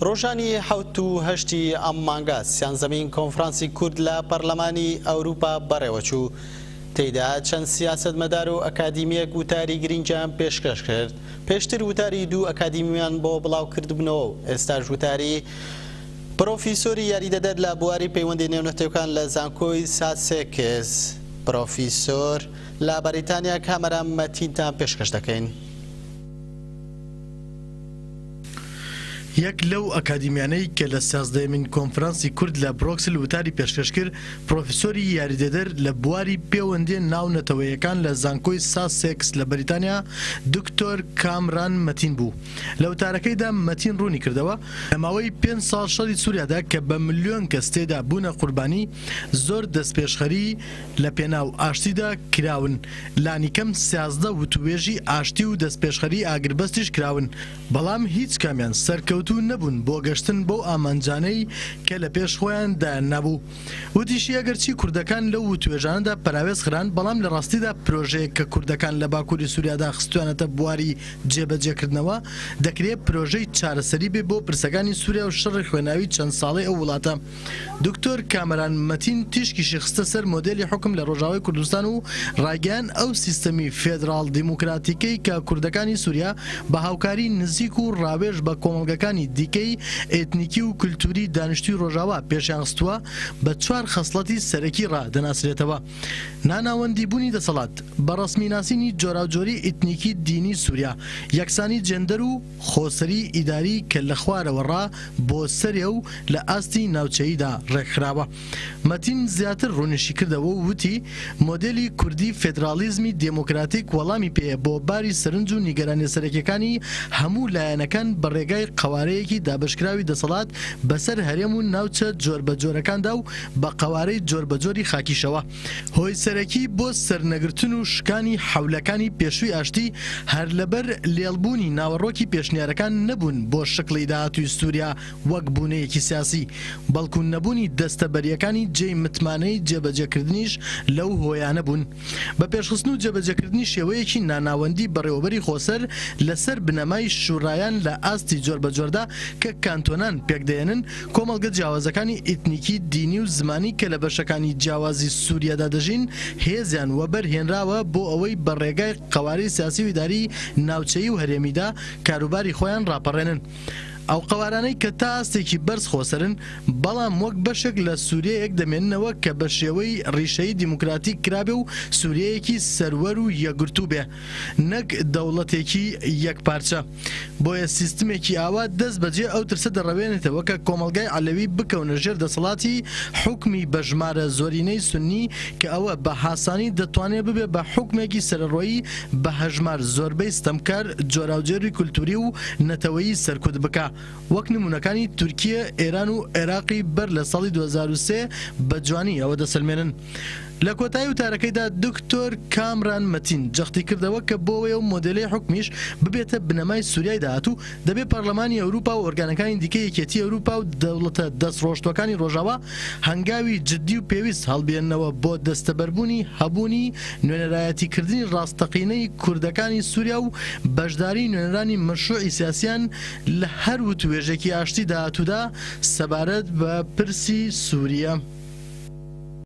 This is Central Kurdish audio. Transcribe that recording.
ڕۆژانی حەوت و هەشتی ئەم مانگە سیانزەمین کۆنفرانسی کورد لە پەرلەمانی ئەوروپا بەڕێوەچوو، تێیدا چەند سیاسەتمەدار و ئەکادیمییەک وتاری گرنگیان پێشکەش کرد، پێشتر وتاری دوو ئەکادیمیمان بۆ بڵاوکردبنەوە و ئێستاش وتاری پرۆفیسۆری یاریدەدەر لە بواری پەیوەندی نێونەتەوکان لە زانکۆی ساسێکس پرۆفیسۆر لە بەریتانیا کامەران مەتینتان پێشکەش دەکەین. یەک لەو ئەکادیمیانەی کە لە سیازدەیەمین کۆنفرانسی کورد لە برۆکسل وتاری پێشکەش کرد، پرۆفیسۆری یاریدەدەر لە بواری پێوەندییە ناونەتەوەییەکان لە زانکۆی ساسێکس لە بەریتانیا دکتۆر کامران مەتین بوو. لە وتارەکەیدا مەتین روونی کردەوە، لە ماوەی پێنج ساڵ شەڕی سوریادا کە بە ملیۆن کەس تێیدا بوونە قوربانی، زۆر دەستپێشخەری، لە پێناو ئاشتیدا کراون، لانیکەم سیازدە وتووێژی ئاشتی و دەستپێشخەریی ئاگربەستیش کراون، بەڵام هیچ کامیان سەرکەوتوو نەبوون بۆ گەشتن بەو ئامانجانەی کە لە پێش خۆیان دایاننابوو. وتیشی، ئەگەرچی کوردەکان لەو وتووێژانەدا پەراوێز خران، بەڵام لە ڕاستیدا پرۆژەیەک کە کوردەکان لە باکووری سووریادا خستوویانەتە بواری جێبەجێکردنەوە، دەکرێ پرۆژەی چارەسەری بێ بۆ پرسەکانی سووریا و شەڕی خوێناوی چەند ساڵەی ئەو وڵاتە. دکتۆر کامەران مەتین تیشکیشی خستە سەر مۆدێلی حوکم لە ڕۆژاوای کوردستان و ڕایگەیاند ئەو سیستەمی فێدراڵ دیموکراتیکەی کە کوردەکانی سوریا بە هاوکاری نزیک و ڕاوێژ بە کۆمەڵگەکانی دیکەی ئێتنیکی و کلتوری دانیشتوی ڕۆژاوا پێشیان خستووە بە چوار خەسڵەتی سەرەکی ڕا دەناسرێتەوە ناناوەندی بونی دەسەڵات بە ڕەسمی ناسینی جۆراوجۆری ئیتنیکی دینی سوریا یەکسانی جێندەر و خۆسەری ئیداری کە لە خوارەوە ڕا بۆ سەرێ و لە ئاستی ناوچەییدا ڕێکخراوە. مەتین زیاتر ڕوونیشیکردەوە و وتی، مۆدێلی کوردی فێدراڵیزمی دێموکراتیک وەڵامی پێیە بۆ باری سەرنج و نیگەرانییە سەرەکییەکانی هەموو لایەنەکان بە ڕێگای قەوارەیەکی دابەشکراوی دەسەڵات بەسەر هەرێم و ناوچە جۆربەجۆرەکاندا و بە قەوارەی جۆربەجۆری خاکیشەوە. هۆی سەرەکی بۆ سەرنەگرتن و شکانی حەولەکانی پێشووی ئاشتی هەر لەبەر لێڵ بوونی ناوەڕۆکی پێشنیارەکان نەبوون بۆ شکڵی داهاتووی سووریا وەک بوونەیەکی سیاسی، بەڵکو نەبوونی دەستەبەرییەکانی جێی متمانەی جێبەجێکردنیش لەو هۆیانە بوون بە پێشخستن و جێبەجێکردنی شێوەیەکی ناناوەندی بەڕێوەبەری خۆسەر لەسەر بنەمای شوورایان لە ئاستی جۆربەجۆردا کە کانتۆنان پێکدەێنن کۆمەڵگە جیاوازەکانی ئیتنیکی، دینی و زمانی کە لە بەشەکانی جیاوازی سووریادا دەژین، هێزیان وەبەر هێنراوە بۆ ئەوەی بە ڕێگای قەوارەی سیاسی و ئیداری ناوچەیی و هەرێمیدا کاروباری خۆیان ڕاپەڕێنن. ئەو قەوارانەی کە تا ئاستێکی بەرز خۆسەرن، بەڵام وەک بەشێک لە سووریەیەک دەمێننەوە کە بە شێوەی ڕیشەیی دیموکراتیک کرابێ و سووریەیەکی سەروەر و یەکگرتوو بێ، نەک دەوڵەتێکی یەکپارچە. بۆیە سیستمێکی ئاوا دەست بەجێ ئەو ترسە دەڕەوێنێتەوە کە کۆمەڵگای عەلەوی بکەونە ژێر دەسەڵاتی حوکمی بە ژمارە زۆرینەی سوننی کە ئەوە بە هاسانی دەتوانێ ببێ بە حوکمێکی سەرەڕۆیی بە هەژمار زۆربەی ستەمکار جۆراوجۆری کولتووری و نەتەوەیی سەرکوت بکا وەک نموونەکانی تورکییە ئێران و عێراقی بەر لە ساڵی دوو هەزار و سێ بە جوانی ئەوە دەسەلمێنن. لە کۆتایی وتارەکەیدا دکتۆر کامران مەتین جەختی کردەوە کە بۆەوەی ئەو مۆدێلەی حوکمیش ببێتە بنەمای سوریای داهاتوو دەبێ پەرلەمانی ئەوروپا و ئۆرگانەکانی دیکەی یەکێتی ئەوروپا و دەوڵەتە دەست ڕۆشتوەکانی ڕۆژاوا هەنگاوی جدی و پێویست هەڵبێننەوە بۆ دەستەبەربوونی هەبوونی نوێنەرایەتی کردنی ڕاستەقینەی کوردەکانی سوریا و بەشداری نوێنەرانی مەشروعی سیاسیان لە هەر وتوێژێکی ئاشتی داهاتوودا سەبارەت بە پرسی سوریا.